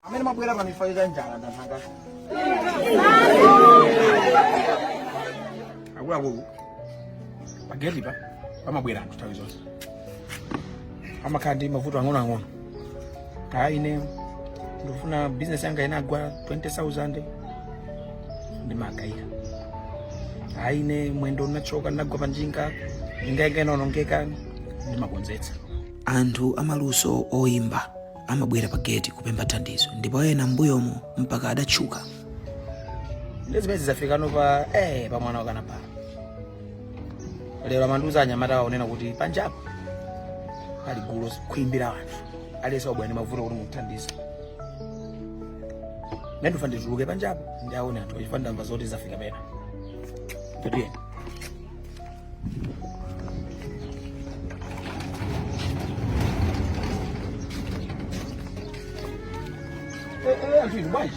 amene amabwera pa zifukwa za njala ndanthanga akuluakulu pageti pa amabwera anthu nthawi zonse amakhala ndi mavuto ang'onoang'ono kaya ine ndikufuna bizinesi yanga inagwa 20000 ndimagaira kaya ine mwendo unachoka ndinagwa panjinga njinga yanga inaonongeka ndimakonzetsa anthu amaluso oyimba amabwera pa geti kupempha thandizo ndipo ena mbuyomo mpaka adatchuka nde zimenezi zidafika no pa eh, pa mwana wakanapala lero amandiuza anyamatawa onena kuti panjapo pali gulu khwimbi la anthu alesa ubwani mavuto kuti muthandize nde ndikufuna ndituluke panjapo ndiwaone anthu chifukwa ndamva zoti zinthu zafika pena ndiye anthu inu bwanji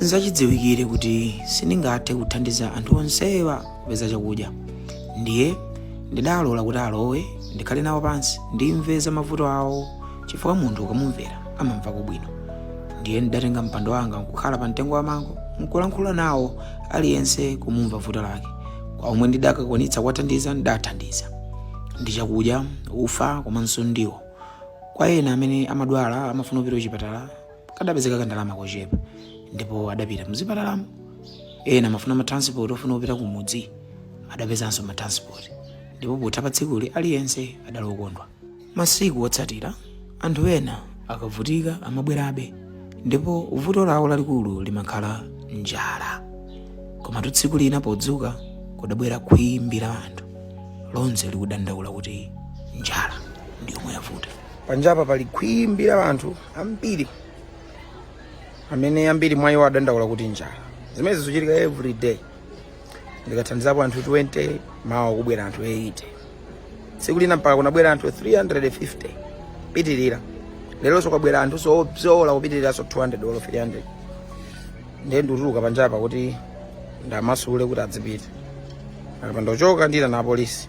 Nzachidziwikire kuti sindingathe kuthandiza anthu onsewa kupeza chakudya. Ndiye ndidalola kuti alowe ndikhale nawo pansi ndimve za mavuto awo chifukwa munthu ukamumvera amamvako bwino. Ndiye ndidatenga mpando wanga nkukhala pa mtengo wa mango nkulankhula nawo aliyense kumumva vuto lake. Kwa omwe ndidakwanitsa kuwathandiza ndidathandiza ndi chakudya, ufa komanso ndiwo. Kwa ena amene amadwala amafuna kupita kuchipatala kadapezeka kandalama kochepa ndipo adapita mzipatalamo ena amafuna matransport ofuna kupita ku mudzi adapezanso matransport ndipo potha pa tsikuli aliyense adali okondwa masiku otsatira anthu ena akavutika amabwerabe ndipo vuto lawo lalikulu limakhala njala komatu tsiku lina podzuka kudabwera khwimbi la anthu lonse likudandaula kuti njala ndi yomwe yavuta panjapa pali khwimbi la anthu ambiri amene ambiri mwa iwo akudandaula kuti njala zimene zikuchitika every day ndikathandizapo anthu 20 mawa kubwera anthu 80 tsiku lina mpaka kunabwera anthu 350 pitirira leronso kwabwera anthu obzola kupitiriranso 200 olo 300 ndiye ndikutuluka panjapa kuti ndiwamasule kuti adzipita akapanda kuchoka ndiitana apolisi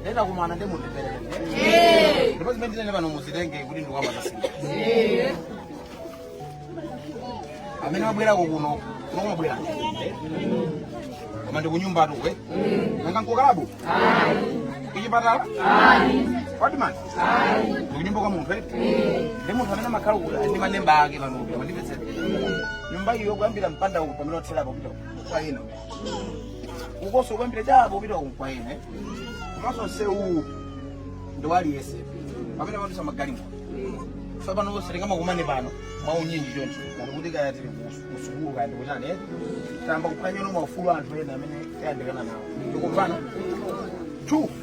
Nde ndakumana ndi munthu pere. Ndipo zimene ndinene pano muzitenge kuti ndikuwamasula. Amene mwabwera kuno, kuno mwabwera. Koma ndi kunyumbatu kuno. Nanga nkukalabu? Ayi. Kuchipatala? Ayi. Odman? ndikunyumba kwa munthu eti ndi munthu amene amakhala uku ndi maneba ake pano uku mwandimvetsera nyumba iyo kuyambira mpanda uku pamene watherapo kupita uku kwa ena ukunso kuyambira chapa kupita uku kwa ena komanso msewuwu ndi waliyese pamene amadutsa magalimoto so pano onse tisamakumane pano mwaunyinji choncho ngati kuti kaya tili kusukulu kaya ndikuchani eh? tayamba kuphwanyano maufulu anthu ena amene tayandikana nawo tikumvanatu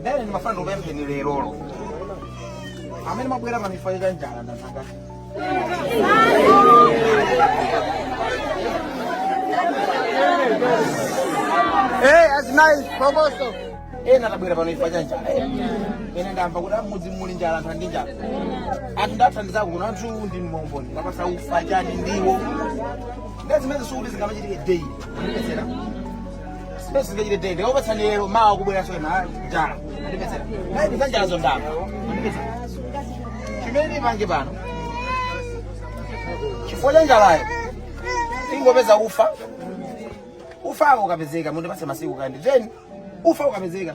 ndene ndimafuna ndikupempheni lerolo amene mwabwera pano chifukwa cha njala ndazaka Hey, that's nice, Provosto. ena tabwera pano chifukwa cha njala eh. ena ndamva kuti mmudzi muli njala anthu andi njala anthu ndathandizako kuno anthu ndi mboni kuwapatsa ufa chani ndiwo ndezimene sikuti zingamachitike daily mwandimvetsera chifukwa cha njalayo ingopeza ufa ufa ukapezeka mundipatse masiku kaya ndi ten ufa ukapezeka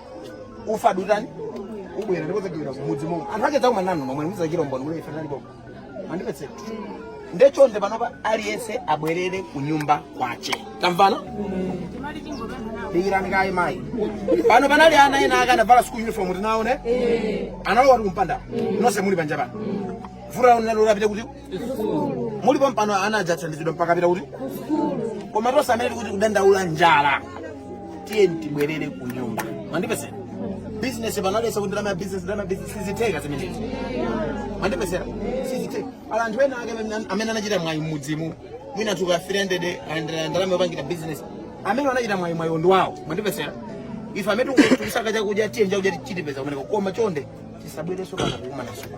ufa ndikutani ndibwera ndipo ndidzagawira mmudzi momo anthu ake ndidzakumana nanu nomwe mudzachitira umboni ndikuti ife tinali pomwe mwandimvetsera nde chonde panopa aliyense abwerere ku nyumba kwache tamvana dikirani kaye mayi pano panali ana ena ake anavala school uniform tinaone analowa kuti kumpanda nonse muli panja pano zuro munalola apite kuti muli pompano ana adzathandizidwa mpaka apita kuti koma tonse amene tikudandaula njala tiyeni tibwerere ku nyumba mwandimvetsera bizinesi pano alesa kuti ndalama ya bizinesi ndalama ya bizinesi sizitheka zimenezi mwandimvetsera sizitheka ala anthu ena ake amene- amene anachita mwayi mmudzimu mwina ka 300 ayendera ndalama yopangira bizinesi amene anachita mwayi mwayi ndi wawo mwandimvetsera ife amene tikusaka chakudya tiyeni chakudya tichipeza kumeneko koma chonde tisabwereso kana kukumana supa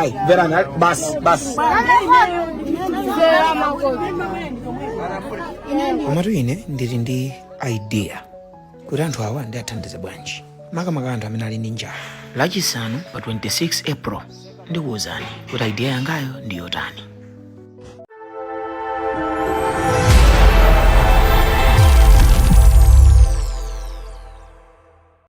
Ayi, mverani, basi basi. komatu ine ndili ndi idea kuti anthu awa ndiathandize bwanji makamaka anthu amene ali ndi njala lachisanu pa 26 april ndikuwuzani kuti idea yangayo ndi yotani